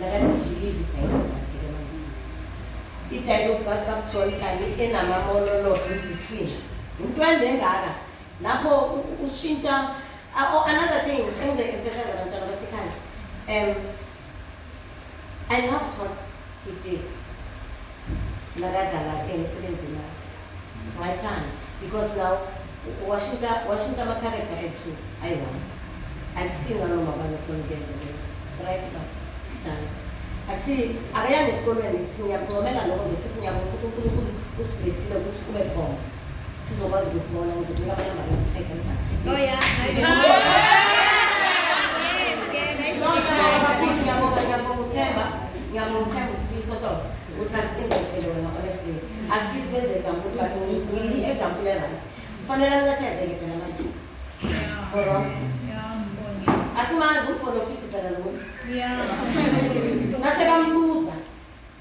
Nakadilivi dialogue yakhe manje. I-dialogue kakubakujola kanti enama-monologue in between. Into ende engaka. Lapho u- u- ushintsha Ah, oh, another thing engizoyi-emphasize abantwana basekhaya. Um I loved what he did. ngakadlala emsebenzini wakhe ngayithanda because now washintsha washintsha ama-character ethu ayi-one akusinga noma banokhona ukuyenzekela right ba dala akusi akayanga esikolweni ngithi ngiyakuncomela lokho nje futhi ngiyabona ukuthi unkulunkulu usiblesile ukuthi kube khona sizokwazi ukubona ukuze kube abalamba beziphethe loya ngiyamthemba usifiso to ukuthi asibenzethele wena honestly asifisi ukwenza example but ngiyi-example eright kufanele ancethezeke phela manje asimazi ukhona ofiti phela lo nasekambuza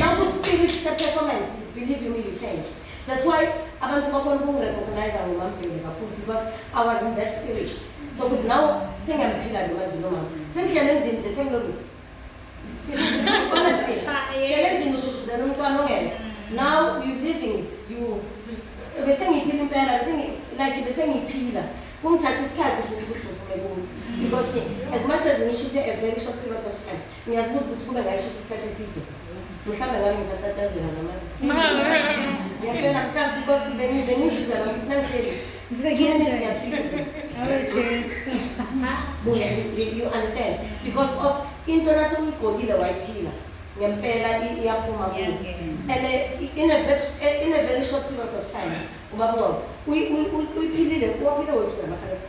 Nangu spirit se-performance, believe you me, you change. That's why abantu bakhona ukungirecognize ngomambhele kakhulu because I was in that spirit. So kuthi nawo sengiyamuphila lo manje lo mama. Sengidlele endlini nje sengilungisa. Honestly, dlele endlini ushushuzela umntwana ongena. Now you living it. You bese ngiyiphila impela, bese ngi like bese ngiyiphila. Kungithatha isikhathi futhi ukuthi ngiphume kuyo because as much as ngisho ukuthi a very short period of time Ngiyazibuza ukuthi kube ngayisho isikhathi eside. Mhlawumbe ngabe ngisatatazela namanje. Ngiyafela mhlawumbe because bengi- bengizizwa nami ukuthi nangihleli. Two minutes ngiyatreat. Awe Jesu. Buya, you- you understand? Because of into nase uyigqokile wayiphila. Ngempela i- iyaphuma kuwe. Iyangena. And uh, in a very, in a very short period of time, ubaba uNgcobo, uyi- uyi- uyi- uyiphilile, uwaphile wethu namakhalekthi.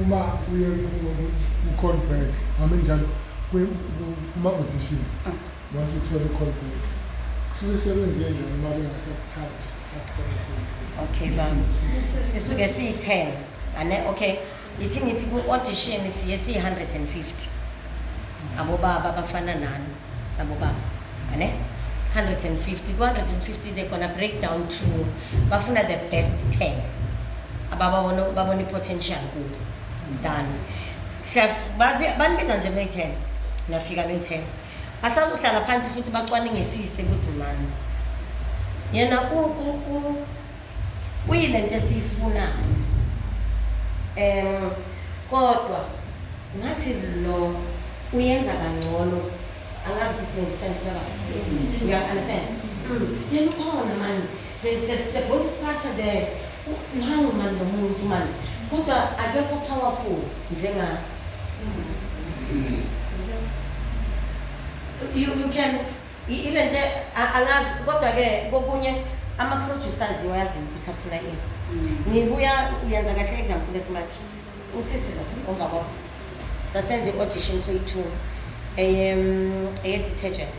uma uye ku-callback hame njalo kuma-audition Once you tell the company, suke sebenze nje uma bengasakuthathi after the okay baba sisuke siyi-10 ane okay ithi ngithi ku-audition siye siyi-150 abobaba abafana nani abobaba ane 150 ku-150 they gonna break down to bafuna the best 10 abababona babona i-potential kubo done Siyaf- babi- banibiza nje beyi-10 nafika beyi-10 Basazohlala phansi futhi bacwaningisise ukuthi mani yena uyile nto esiyifunayo um kodwa ngathi lo uyenza kangcono angazi ukuthi ngisisane sinaba uya-understand yena ukhona mani the, the, the both structure there Nangu mani lo muntu mani kodwa akekho powerful njenga you, you can i- ile nto a- angazi kodwa-ke kokunye ama-producer aziwa yaziwa ukuthi afuna ini ngibuya uyenza kahle example esimathi usisi lo omva kwakho sasenza i-audition soyi-two eye-detergent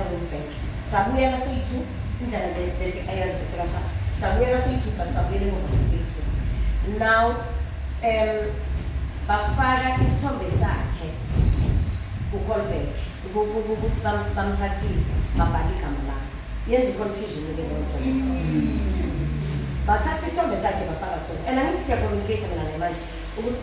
eRosebank sabuyela soyi-two indlela le bese ayazi bese kasha sabuyela soyi-two but sabuyela emuva futhi soyi-two now um bafaka isithombe sakhe kucolback ukuthi bam- bamthathile babhala igama lakhe yenza i-confusion ke leyo nto bathatha isithombe sakhe bafaka sona and angithi siyakomunicate mina naye manje ukuthi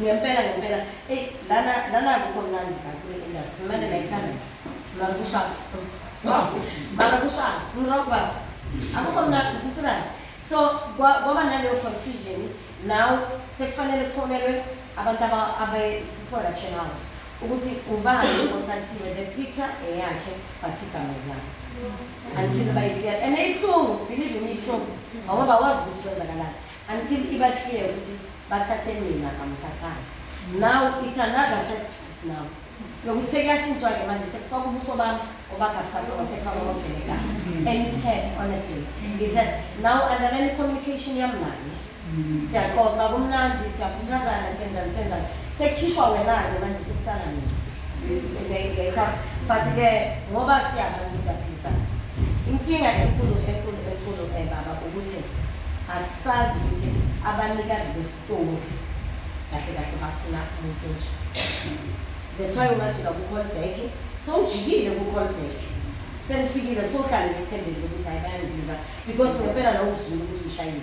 ngempela ngempela eyi lana lana akukho mnandi la kule industry manje nayithanda nje mara kushaya mara kushaya ngirock baba akukho mnandi kusirazi so kwa- kwaba naleyo confusion now sekufanele kufonelwe abantu aba- abe-production house ukuthi ubani othathiwe le picture eyakhe but igama lami until bayiclear and ibuhlungu believe me ibuhlungu ngoba bakwazi ukuthi kwenzakalani Until iba clear ukuthi bathathe mina kamthathanga. Now it's another setback now. Yokuthi sekuyashintshwa ke manje sekufaka ubuso bami obakabusafika sekufaka obabhekekayo. And it hurts honestly. It hurts. Now underline communication yami naye. Siyaxoxa kumnandi, siyakhuthazana, senzani senzani. Sekukhishwa wena-ke manje sekusala mina. better but ke ngoba siyabantu siyaphisa inkinga enkulu enkulu enkulu eh, baba ukuthi asazi ukuthi abanikazi besitolo kahle kahle bafuna umuntu nje that's why ungajika ku-call back so ujikile ku-call back senifikile sohlale ngethembele ukuthi hayi bayangibiza because ngempela nawuzulu ukuthi ngishayile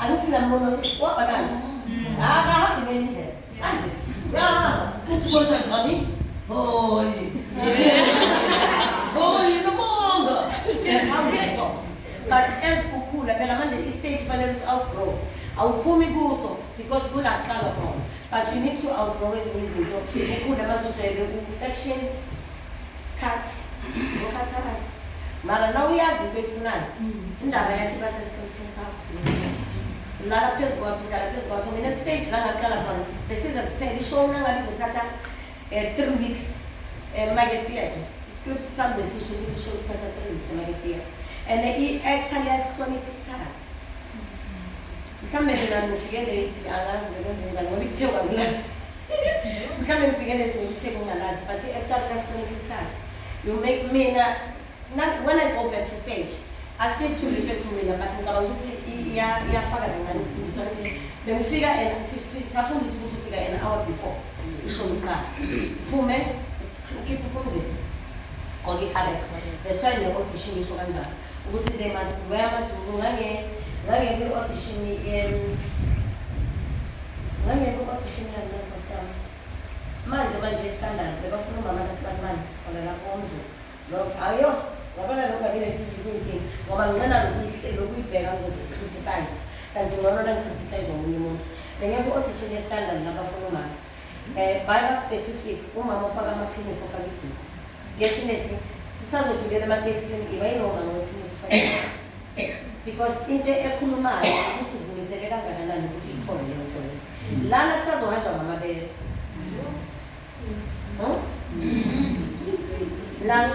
Angithi nambono ukuthi sikwaba kanje. Akahambi ngenye indlela. Kanje. Ya, uthi kwenza njani? Hoyi. Hoyi nomanga. That's how we talk. But as ukhula phela manje i-stage fanele usi-outgrow. Awuphumi kuso because kula kuqala khona. But you need to outgrow ezinye izinto. Ukhule manje ujwayele ku-action Cut. Uzokhathala. Mara na uyazi into oyifunayo. Indaba yakhe iba sesikhethini sakho. Lala phezu kwaso, ngidlala phezu kwaso. Mina stage la ngaqala khona. Besiza siphele ishow nangabe izothatha eh, three weeks eh, Mike Theatre. Iscript sami besisho ukuthi ishow ithatha three weeks Mike Theatre. And i-actor liyasihlonipha isikhathi. mhlawumbe mina ngifike late angazi bekwenze njani ngoba ikuthe kwakulazi mhlawumbe ngifike late ngikuthe kungalazi but ekuqalula sikhona isikhathi you make mina when i go back to stage asikisi to refer to mina but ngicabanga ukuthi iyafaka kancane ukufundiswa bengifika and safundisa ukuthi ufika an hour before isho umqala phume ukhiphe uphumzile gqoke i-alex that's why ne-audition isho kanjalo ukuthi le maziwe amaduku ngange ngange kwi audition em ngange kwi audition yami lapho sami manje manje iskandalo bebafuna umama kasibanibani khona lapho umzulu lo ayo ngabona lokhu kabile TV kuyinkinga ngoba nginqena lokuyihle lokuyibheka ngizozicriticize kanti ngcono la ngicriticize omunye umuntu bengeke audition yeskandalo lapho afuna umama Eh, baba specific umama ufaka amaphinifu ufaka iduku definitely sisazogibela ematekisini ngiba yinomama wephinifu ufaka iduku. because into ekhulumayo ukuthi zimisele kangakanani ukuthi ithole leyo nto leyo lana kusazohanjwa ngamabele Hmm? lana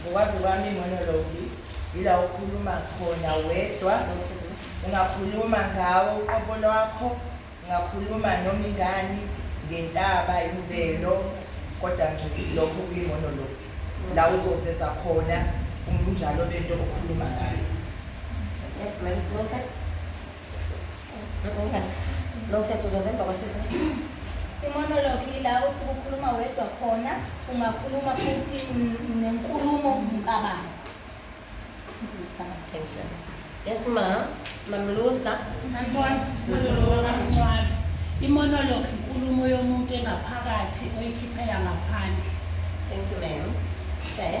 ngokwazi kwami imonologi yila ukhuluma khona wedwa ungakhuluma ngawo uqobo lwakho ungakhuluma noma ingani ngentaba imvelo kodwa nje lokho kuyimonologi la uzoveza khona umbunjalo bento okhuluma ngayo yes ma'am noted lo mthetho uzoza emva kwasizini imonologue yila osuke ukhuluma wedwa khona ungakhuluma futhi nenkulumo mcabango yes ma mamlusa imonologue inkulumo yomuntu engaphakathi oyikhiphela ngaphandle thank you ma'am sir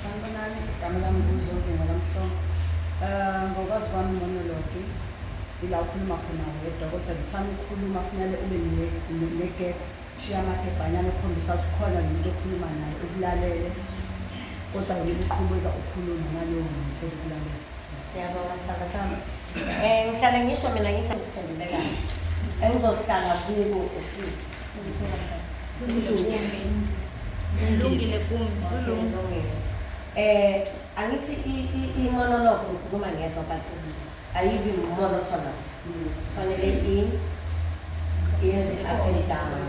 Sanibonani, igama lami nguZonke Ngolamhlongo. Eh, ngokwazi kwami monologi ila ukhuluma khona wedwa kodwa ngithanda ukukhuluma kufanele ube negap shiya amagebhanyana okhombisa ukuthi ukhona nomuntu okhuluma naye ukulalele kodwa wena uqhubeka ukhuluma nalowo muntu okulalela Siyabonga sithanda sami. Eh ngihlale ngisho mina ngithi siphendule kahle. Engizohlala kubo esisi. Ngilungile kumi. Kulungile. Eh angithi i-monologue ngikhuluma ngedwa but ayibi monotonous. Fanele in yenze up and down.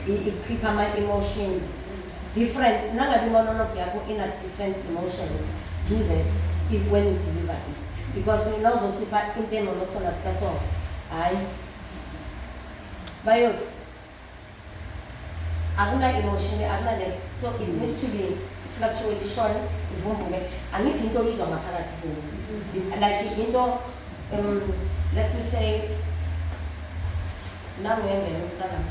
Ikhipha ama-emotions. different nangabe imonolog yakho ina different emotions do that if when you deliver it because nina uzosipha into emonotona sikasongo hhayi bayothi akuna-emotion akuna-next so it needs to be fluctuate ishone ivumbuke angithi into oyizwa ngaphakathi kuyo mm-hmm. like into um, let me say nanguembele umntanami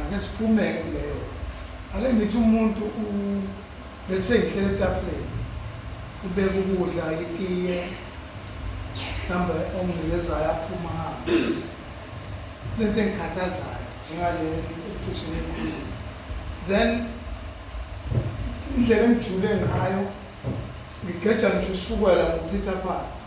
Ake siphume kuleyo. Ake ngithi umuntu u bese ngihlele etafuleni. Ubeka ukudla itiye. Mhlawumbe omnikezayo aphuma hamba. Lento engikhathazayo njengale ecishe nenkulu. Then indlela engijule ngayo ngigeja ngisho ushukela ngichitha phansi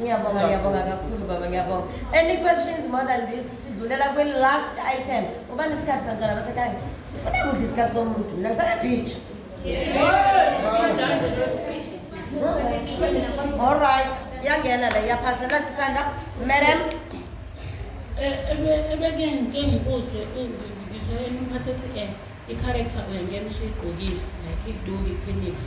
Ngiyabonga, ngiyabonga kakhulu baba, ngiyabonga. Any questions more than this? Sidlulela kwi last item. Uba nesikhathi bantwana basekhaya. Ufuna kudla isikhathi somuntu. Mina ngisaya beach. All right. Iyangena le iyaphasa nasisanda. Madam. Ebeke ngike ngibuzwe ngizwe umphathi ethi eh i-character uyangena usuyigqokile like iduku iphinifu.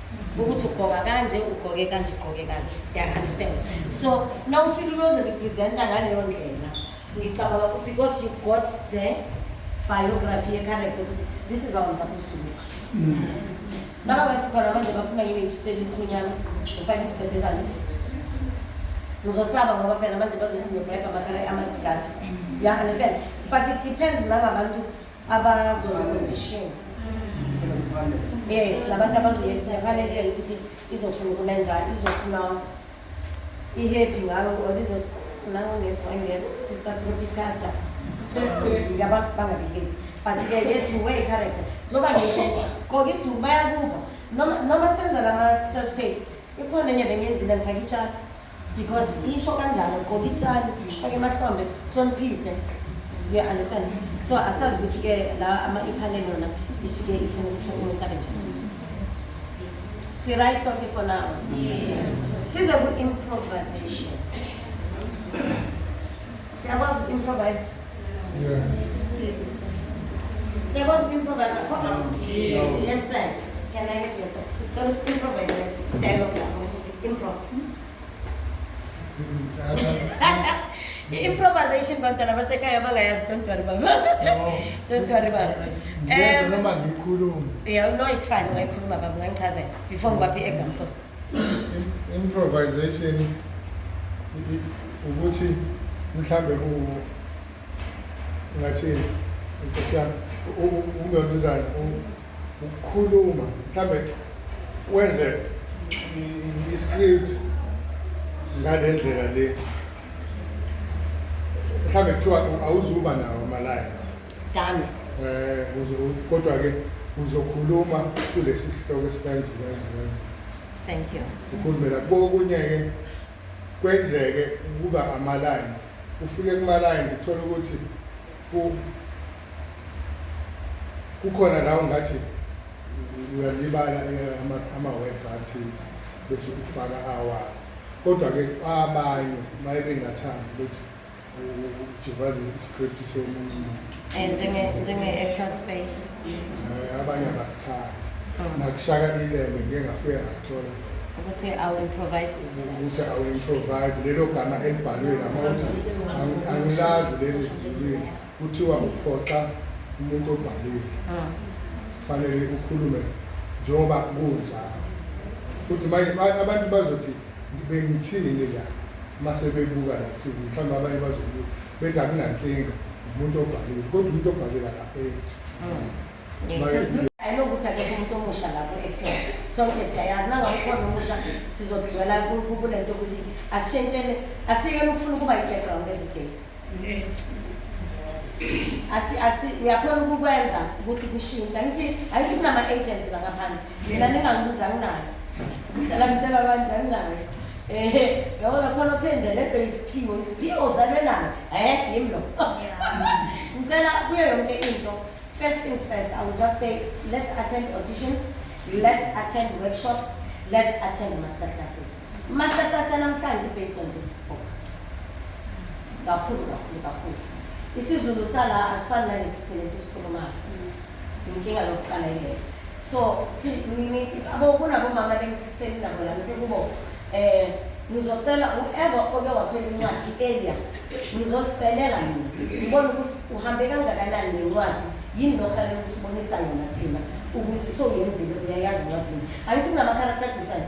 ukuthi ugqoka kanje ugqoke kanje ugqoke kanje yaunderstand so nawufika uyozirepresenta ngaleyo ndlela ngicabanga ukuthi because you got the biography yecharacter ukuthi this is awenza kusuka nabangathi khona manje bafuna yini ngitshitshela imkhunyana ufake isibhebhezane ngizosaba ngoba phela manje bazothi ngiyobreka amakhala amajaji ya-understand but it depends nangabantu abazonotishiwe yes labantu abazoyes nephanelele ukuthi izofuna ukumenza izofuna i-happy ngayo or izothi nangongeswangelo sister tropicata yaba bangabikeli but-ke yes you way character njengoba ngisho qoke iduku bayakuba noma noma senza lama-self tape ikhona enye bengenzile ngifake itshalo because isho kanjalo qoba itshali fake emahlombe hloniphise you understand so asazi ukuthi ke la ama ipanel yona isuke ifuna ukuthi umuntu abe njani si right sonke for now yes size ku improvisation siyakwazi ku improvise yes siyakwazi ku improvise yes sir can i have your song cela improvise dialogue lapho Improv. I-improvisation bantwana basekhaya abangayazi don't worry baba don't worry baba Ngiyeza Um, noma ngikhulume. yeah, no it's fine ungayikhuluma baba ungangichazela before ngibaphe i-example Im- Improvisation i- i- ukuthi mhlambe ku ngathi nkosi yami u- u- umbambizana u- ukukhuluma mhlambe wenze i-script ngale ndlela le mhlambe kuthiwa awuzuba nawo amalaya done um kodwa-ke uzokhuluma kulesi sihloko esikanje kanje kanje thank you ukhulumela kokunye-ke kwenzeke ukuba ama-lines ufike kuma-lines uthole ukuthi kukhona la ungathi uyalibala ama-words athize bese ufaka awakho kodwa-ke abanye maye bengathandi ukuthi ujivaze iscript somunye umuntu njenge-actor space Eh, abanye abakuthandi oh. nakushaka ilele ngike ngafike ngathola ukuthi awu-improvise ukuthi awu-improvise lelo gama elibhalwe lama uthi angilazi leli zilwini kuthiwa uphoxa umuntu obhalile ah. kufanele ukhulume njengoba kunjalo ukuthi manje abantu bazothi Ngibe ngithini la mase bebuka la TV mhlawumbe abanye bazobuka bethi akunankinga umuntu obhalile kodwa umuntu obhalile akaphethi. Hmm. Ayinokuthi akekho umuntu omusha lapho ethela sonke siyayazi nangakukhona omusha sizogcwela kule nto ukuthi asishentshele asiyekele ukufuna ukuba yi-background everyday asi asi uyakhona ukukwenza ukuthi kushintshe angithi angithi kunama-agents la ngaphandle mina ningangibuza anginayo ngidlala ngitshela abantu anginayo ehe yabona khona kuthe nje le bhe isiphiwo isiphiwo zale nayo eh yim lo ngicela kuyo yonke into first things first i will just say let's attend auditions let's attend workshops let's attend master classes Masatasa namhlanje based on this book. Kakhulu kakhulu kakhulu. IsiZulu sala asifani nalesithini esisikhulumayo. Inkinga lokuqala ile. So si nini abo kunabomama bengithiseni nabo la ngithe kubo eh ngizocela whoever oke wathola incwadi earlier ngizosicelela mina ngibona ukuthi uhambe kangakanani nencwadi yini lokufanele ukuthi ubonisa yona thina ukuthi soyenzile uyayazi incwadini angithi kunama-character different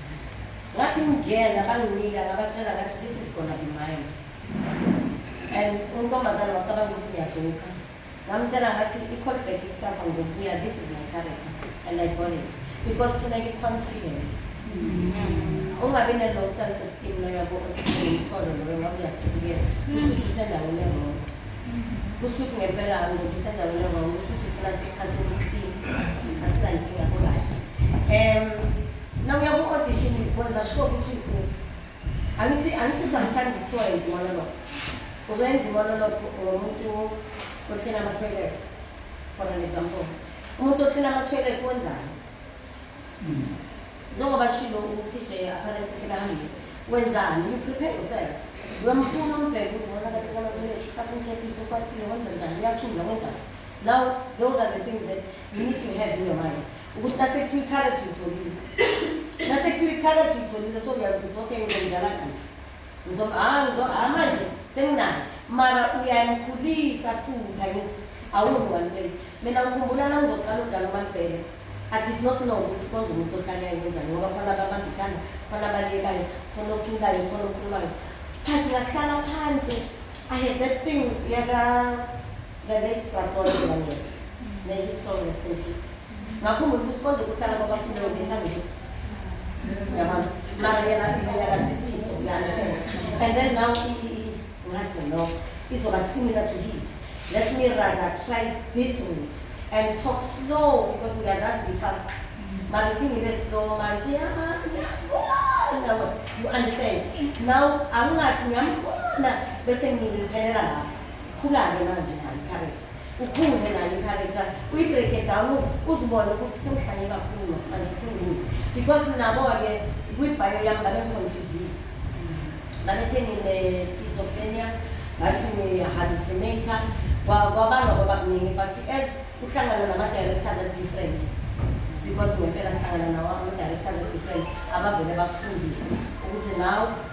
ngathi ngingena banginika ngabatshela ngathi this is gonna be mine and untombazane wacabanga ukuthi ngiyajoka ngamtshela ngathi i-codback ikusasa ngizokubuya this is my character and i bought it because funeka i-confidence mm-hmm. ungabi ne-low self esteem loyabo othimhlolo loyo ngoba uyasibukela kusho ukuthi usendaweni erong kusho ukuthi ngempela ngoba usendaweni erong kusho ukuthi ufuna siqhashe ubuhlini asinankinga kurayithi um Now uya ku audition wenza sure ukuthi ukhona. Angithi angithi sometimes kuthiwa yenza monologue. Uzoyenza monologue ngomuntu okhela ama toilet. For an example. Umuntu okhela ama toilet wenzani? Mm. Njengoba shilo uTJ apparently sekahambile. Wenzani? You prepare yourself. Uyamfuna umbheke ukuthi wona kahle kana toilet. Afuna checkisa ukwatile wenza njani? Uyachunda wenzani? Now those are the things that you need to have in your mind. ukuthi nasekuthiwa icarrot uyitholile nasekuthiwa icarrot uyitholile so uyazi ukuthi okay ngizomdlala kanje ngizo ah ngizo ah manje senginayo mara uyanikhulisa futhi angithi awubi one place mina ngikhumbula nangizoqala ukudlala umalibhele I did not know ukuthi konje umuntu ohlale ayenzani ngoba khona ababamba ikhanda khona abalekayo khona oculayo khona okhulumayo but ngahlala phansi i had that thing yaka the late Bradon Daniel may his soul rest in peace ngakhumbula ukuthi konje kuhlala kwabafileyo ngethanda ukuthi yabona mara yena uyakazisiso uyanisela and then now ngathi no izoba similar to his let me rather try this route and talk slow because ngiyazazi ngifast mara ithi ngibe slow manje ngiyabona you understand now angingathi ngiyambona bese ngiphelela lapho khula-ke manje nayo i-character ukhule nayo i-character uyi-break it down uzibone ukuthi sewuhlanye kakhulu manje thengini because nabo-ke kwibhayo yami babengiconfusile babethi ngine-schizophrenia bathi ngihallucinator kwabalwa kwabakuningi but as uhlangana nama-directors a-different because ngempela sihlangana nawo ama-directors a-different abavele bakufundise ukuthi nawe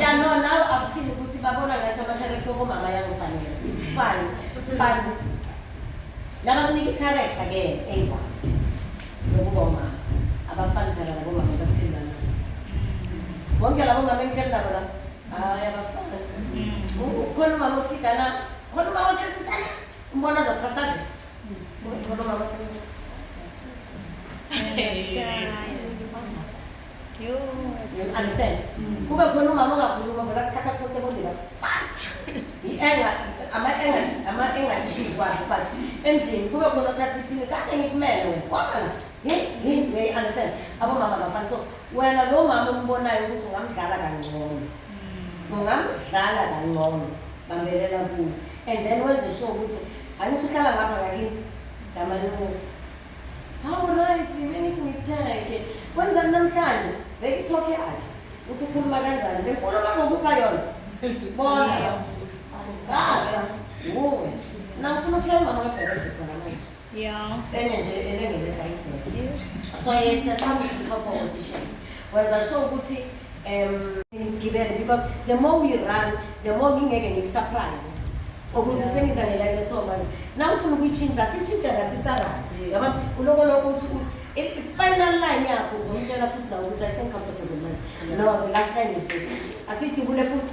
ya no nawe akusile ukuthi babona ngathi amakharektha okomama yangifanele it's fine but nabakunika ikharektha ke eyiwa yokuba umama abafani phela labomama bapheli banathi bonke labomama engihleli nabo la hayi abafani khona umama othigana khona umama othethisa umbona azaqhaqhazela You understand? Kube khona umama ongakhuluma vele akuthatha kuphonse bondela. I-anger, ama-anger, ama-anger issues wakhe but endlini kube khona othatha iphini kade ngikumele wena. Kodwa la, hey, hey, hey, understand? Abomama abafani so wena lo mama ombonayo ukuthi ungamdlala kangcono. Ungamdlala kangcono. Bambelela kuye. and then wenze sure ukuthi hayi usuhlala ngapha ngakini ngamaluku hawu right bengithi ngikutheke kwenzani namhlanje bekithoke akhe uthi ukhuluma kanjani benkulu bazokupha yona bona sasa wuwe nangifuna ukutshela umama webhekede khona manje Yeah. Enye nje elengele sayidini. Yes. So yes, that's how we prepare for auditions. Wenza sure ukuthi um ngigibele because the more we run, the more ngingeke ngiku-surprise. Ukuze sengizanela into so manje. Nawu ufuna ukuyitshintsha, sitshintsha la sisarana. Yes. Yabona uloko lokho uthi uthi i- i- final line yakho uzomtshela futhi nawe ukuthi ayisemcomfortable manje. No, the last line is this. Asidubule futhi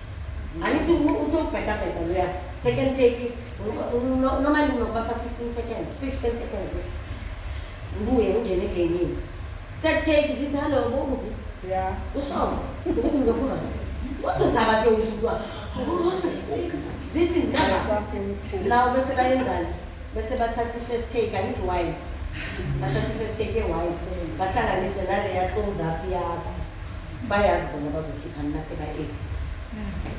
angithi uthi ubhedabheda loya second take normally nokubakha 15 seconds 15 seconds ukuthi ngibuye ngingene egamini third take zithi hallo bomubi ya usho ukuthi ngizokhuluma uthi uzaba nje ushintwa zithi nawo bese bayenzani bese bathatha i-first take angithi white bathatha i-first take e-white bahlanganise naleya close up yakho bayazi bona bazokhiphani nase ba edit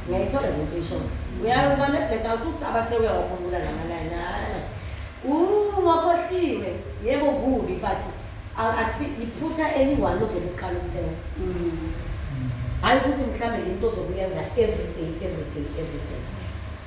ngiyayithola le nto isho uyazi bane black out uthi abathe uyawakhumbula lama line hayi uh wakhohliwe yebo kubi but akusi iphutha eliwani ozobe uqala ukulenza hayi ukuthi mhlawumbe into ozokuyenza every day every day every day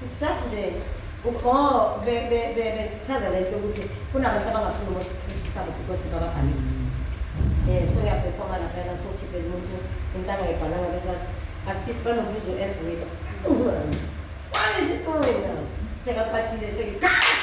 It's just nje ukho be be be besichaza lento ukuthi kunabantu abangafuni ukusho isikhathi sabo because bababhale. Eh so ya performa la phela so kibe umuntu intanga ibhalanga besathi asikisi banokubiza uF wena. Why is it going now? Sekapatile sekathi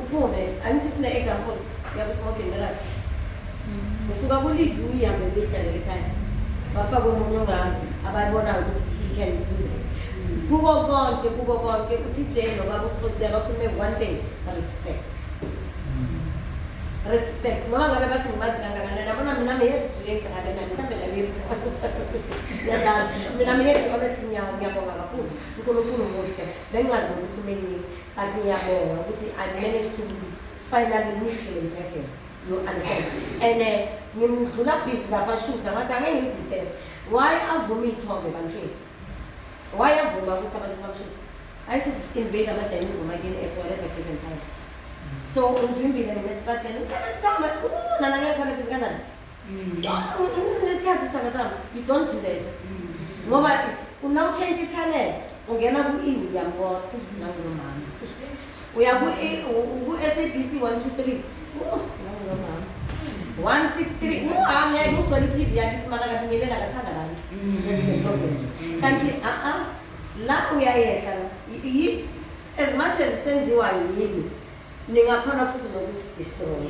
Uphume. Angithi sine example yakusmoking nalasi. Usuka ku lead uyihambe uyidlalele ekhaya. Bafaka umuntu ongami abayibona ukuthi he can do that. Kuko konke kuko konke uTJ nobaba uSfoti abakhulume one thing respect. Respect. Noma ngabe bathi ngimazi kangakanani nabona mina mehebhu yegane nami mhlambe la yebhu. Yadlala. Mina mehebhu honestly ngiyawu ngiyabonga kakhulu. uNkulunkulu muhle. Bengingazi nokuthi umelini but ngiyabonga ukuthi I managed to finally meet him in person. You understand? And uh, ngimdlula busy lapha shutha ngathi angeke ngimdisturb. Why avume iy'thombe ebantwini? Why avuma ukuthi abantu bamshuthe? Angithi si-invade amadayini ngomakini at whatever given time. So umvimbile mina esitradeni, uthanda sithombe, nana ngeke khona busy kanjani? nesikhathi sithaka sami you don't do that ngoba una utshentshe i-channel ungena ku-e uyambona nangulomama uya ku-s a b c one two three nangulomama one six three angeke ugcwele i-t v yakithi mara kabingelela kathanda abantu that's the problem kanti a-a la uyayehla as much as senziwa yini Ningakhona futhi nokusidestroy.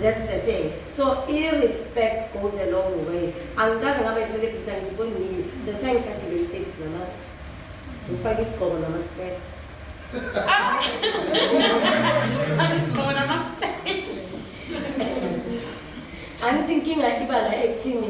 That's the thing. So i-respect goes a long way. Angikaze ngabe i-celebrity angiziboni nini. The time isagibela i-taxi nama ngifake isigqoko nama-specs. Angithi inkinga iba la ekuthini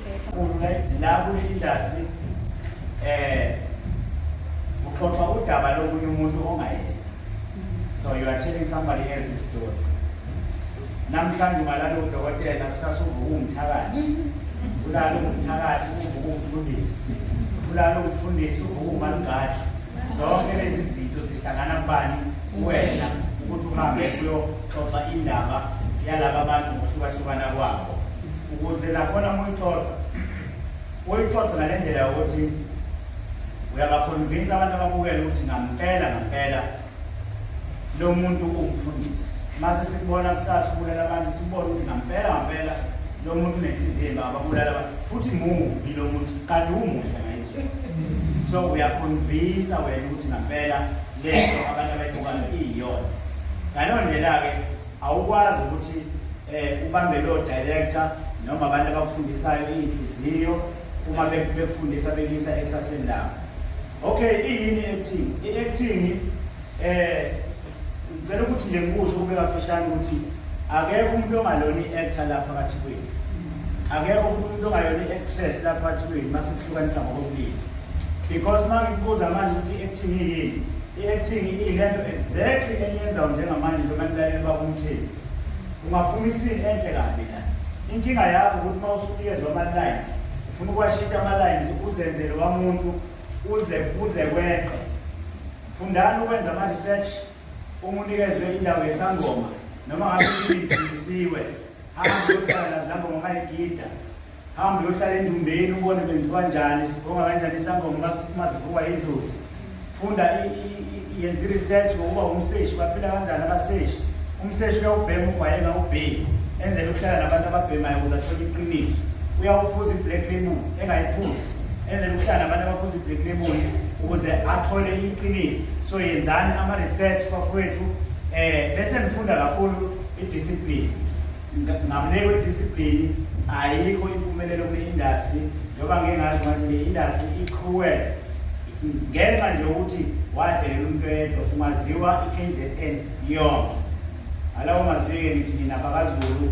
Kunye la kwi-industry eh uxoxa udaba lomunye umuntu ongayena. So you are telling somebody else's story. Namhlanje ungalala udokotela kusasa uvuka umthakathi. Ulala umthakathi uvuka umfundisi. Ulala umfundisi uvuka umalungathi. zonke lezi zinto zihlangana kubani kuwena ukuthi uhambe kuyoxoxa indaba yalaba bantu ngokuhlukahlukana kwabo ukuze nakhona uma uyixoxa uyixoxe ngale ndlela yokuthi uyabakhonvinsa abantu ababukele ukuthi ngampela ngampela lo muntu ungifundisi mase sikubona kusasa ubulala abantu sibone ukuthi ngampela ngampela lo muntu unenhliziyo embi ababulala abantu futhi mubi lo muntu kade umuhle so uyakhonvinsa wena ukuthi ngampela lento abantu abayibukayo iyiyona ngaleyo ndlela-ke awukwazi ukuthi um ubambe loo director noma abantu abakufundisayo iyinhliziyo uma bekufundisa bekuyisa ekusaseni lakho okay iyini i-acting i-acting um Ngicela ukuthi nje ngikusho kube kafishane ukuthi akekho umuntu ongalona i-actor lapha phakathi kwenu. Akekho futhi umuntu ongalona i-actress lapha phakathi kwenu uma sikuhlukanisa ngokobulili. Because uma ngikubuza manje ukuthi i-acting yini? I-acting iyilento exactly eniyenzayo njengamanje njengoba nilaleli bakumtheni. Ungaphuma isini enhle kabi la. Inkinga yakho ukuthi uma usukuyezo ama-lines, ufuna ukuwashintsha ama-lines uzenzele wamuntu uze uze kweqe. Fundani ukwenza ama-research uma unikezwe indawo yesangoma noma ngabe isindisiwe hamba uyohlala nazangoma mayigida hamba uyohlala endumbeni ubone benziwa njani sibhonga kanjani isangoma uma sivukwa yidlozi funda yenza i-research ngokuba umseshi baphila kanjani abaseshi umseshi uyawubhema ugwayeka ubheki enzela ukuhlala nabantu ababhemayo ukuze athole iqiniso uyawuphuza i-black label engayiphuzi enze ukuhlala abantu abaphuza ibreak leboni ukuze athole iqiniso so yenzani ama-research bafowethu um eh, bese ngifunda kakhulu idiscipline ngamleki wediscipline ayikho impumelelo kule industry njengoba ngeke ngazi ngathi le industry iqhuwele ngenxa nje ukuthi wadelela umuntu oyedwa ungaziwa i-kzn yonke alawo mazwi-ke ngithi nina bakazulu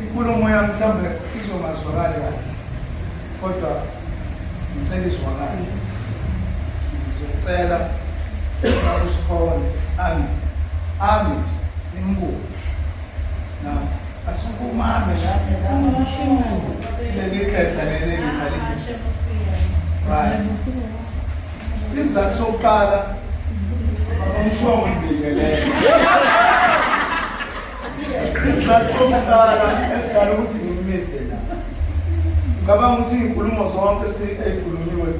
inkulumo yam mhlawumbe izongazwakali kahle kodwa ngicela izwakale ngizocela usikhona ami ami nimbuke na asikumame leli khetha leli ngithalibuso right Isizathu sokuqala bamshongo mbingelele. Isizathu sokuqala esidala ukuthi ngimise la. Ngicabanga ukuthi izinkulumo zonke ezikhulunyiwe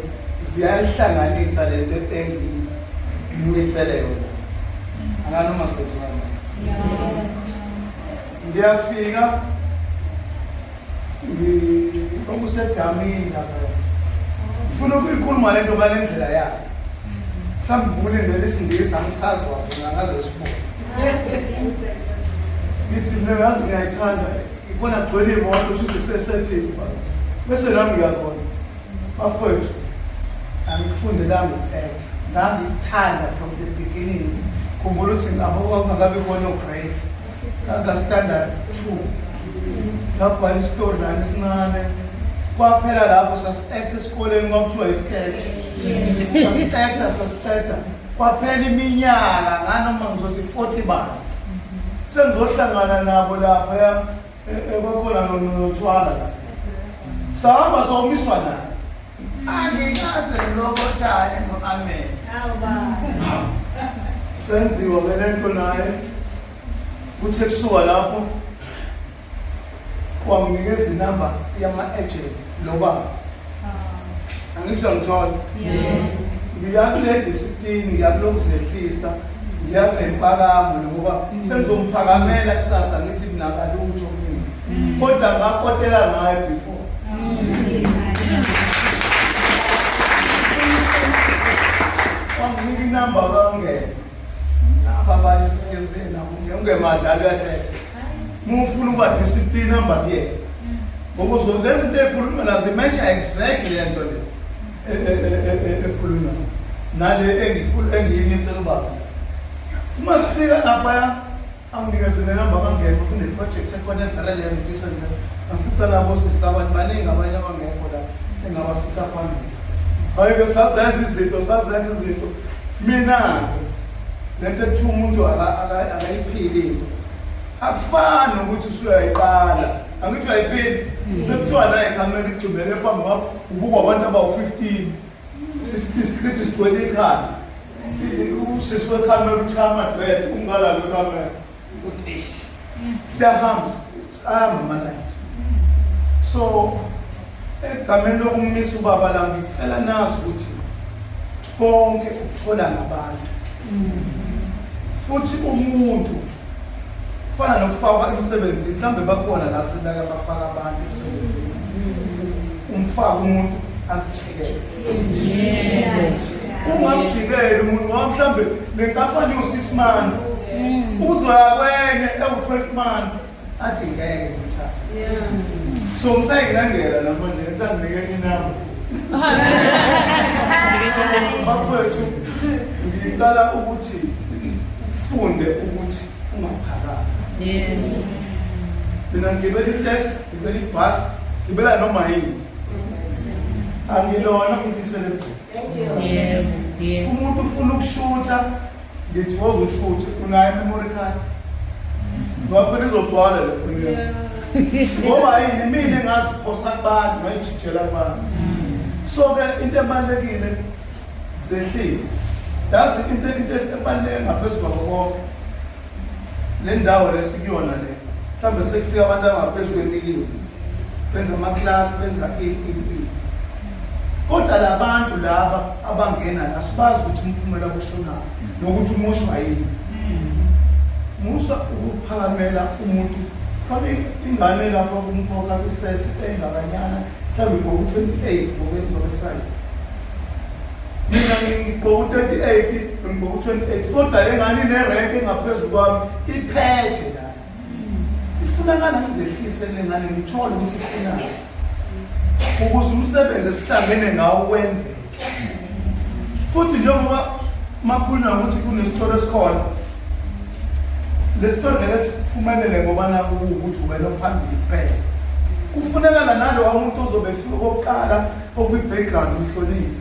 ziyayihlanganisa le nto engiyimisele yona. Anganoma sezwana. ngiyafika okusedamini lapho ngifuna ukuyikhuluma le nto ngale ndlela yayo mhlawumbe ngibule ngela isingisi angisazi wafuna ngaze sibone ngithi mina ngazi ngiyayithanda ikona gcwele imoto kusho ukuthi sesethini bese nami ngiyakona bafowethu angikufundelanga ukuetha ngangikuthanda from the beginning khumbula ukuthi ngabo kwakungakabi kona ograde Kaka standard 2. Ngabhala isitori la isincane. Kwaphela lapho sasiqetha esikoleni kwakuthiwa isketch. Sasiqetha sasiqetha. Kwaphela iminyaka nganoma ngizothi 40 bani. Sengizohlangana nabo lapha ya ekwakhona eh, eh, nothwala la. Sahamba somiswa naye. Angikaze ngilokothane ngo-amen. Senziwa ke le nto naye kuthe kusuka lapho wanginikeza inamba yama-agent lo baba ah. angisho ngithola ngiya kule disiplini ngiya kulokuzehlisa ngiya kulempakamo nokuba mm. sengizomphakamela kusasa ngithi mnakalutho kodwa ngakhothela ngayo before wanginika inamba kangena naba abanye sikezeni nabo ungebadlali uyathetha mufuna ukuba discipline hamba kuyena ngokuzo lezi nto ekhuluma nazo imesha exactly le nto le e, e, e, ekhuluma nale engiyimisela ubaba uma sifika laphaya Anginikeze nenamba kangekho kuneprojekthi ekhona evelele yangifisa nje ngafica labo sisi abantu baningi abanye abangekho la engabafica phambili hhayi-ke sazenza izinto sazenza izinto mina-ke le nto ekuthiwa umuntu akayiphili into akufani nokuthi usuyayiqala angithi uyayiphili sekuthiwa naye kamele igxumele phambi kwakho ubukwa abantu abawu-fifteen Isikhithi sigcwele ikhanda. Usisi wekhanda oluchaya amadred umngala lo kamera. Utish. Siyahamba sihamba manje. So egameni lokumisa ubaba la ngicela nazi ukuthi konke ukuthola ngabantu. Futhi umuntu Kufana nokufakwa emsebenzini, mhlawumbe bakhona la sibeka bafaka abantu emsebenzini. Umfaka umuntu akujikele. Ungamjikeli umuntu ngoba mhlawumbe le nkampani iwu-six months. Uzoya kwenye ewu-twelve months athi ngeke ngimthathe. So ngisayinqangela namanje ngithanginike inamba. bafowethu ngicala ukuthi ufunde ukuthi ungaphakami mina ngigibela itex ngibela ibhas ngibela noma yini angilona futhi iselebhesi umuntu ufuna ukushutha Ngithi woza ushuthi unayo memory card. Ngakho nizogcwala le foni yenu. Ngoba yini mina ngaziphosa kubantu ngayijijela kubantu. So ke into ebalekile zehlisi. Yazi into into ebaleke ngaphezulu kwabo bonke. Le ndawo lesikuyona le. Mhlambe sekufika abantu abangaphezulu kwemiliyoni. benza amaklasi benza ini kodwa labantu laba abangena la sibazi ukuthi umphumela kushonaphi nokuthi umushwa yini musa ukuphakamela umuntu khona ingane lapho kumkhokha kwi-sex engakanyana mhlawumbe igqoka u-twenty-eight ngokwesayizi mina ngigqoka u-thirty-eight ngigqoka u-twenty-eight kodwa le ngane inerenke engaphezulu kwami iphethe ifunakala ngizehlise le ngane ngithole ukuthi ifunani ukuze umsebenzi esihlangene ngawo wenzeke futhi njengoba makhulunywa ukuthi kunesitolo esikhona lesitolo ngeke siphumelele ngoba naku ukuthi wena phambili kuphela kufunekala nalowa muntu ozobe fika okokuqala okwi-background uhlonile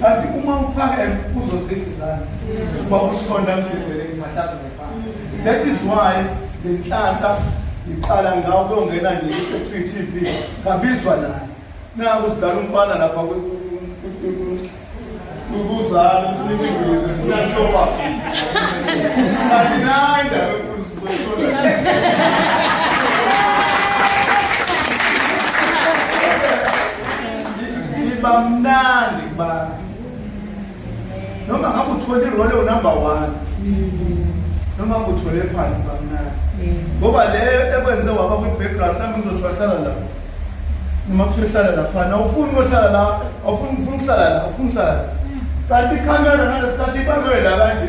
kanti uma uphakeme uzozidla izandla uba usonda emdedele ngiphathaza ngephansi that is why le nhlanhla ngiqala ngawo kuyongena nje i-tv ngabizwa naye naku sidala umfana lapha kuzala usinike ingwezi funa soba kanti nayi ndawo iba mnandi kubantu noma ngabe uthole irole unumber one noma uthole phansi bamnandi ngoba leyo ekwenze waba kwi-background mhlawumbe ngizothiwa hlala la noma kuthiwa hlala laphana awufuni ukuhlala la awufuni ukuhlala la awufuni ukuhlala la kanti ikhamera ngalesikhathi ibanwe la kanje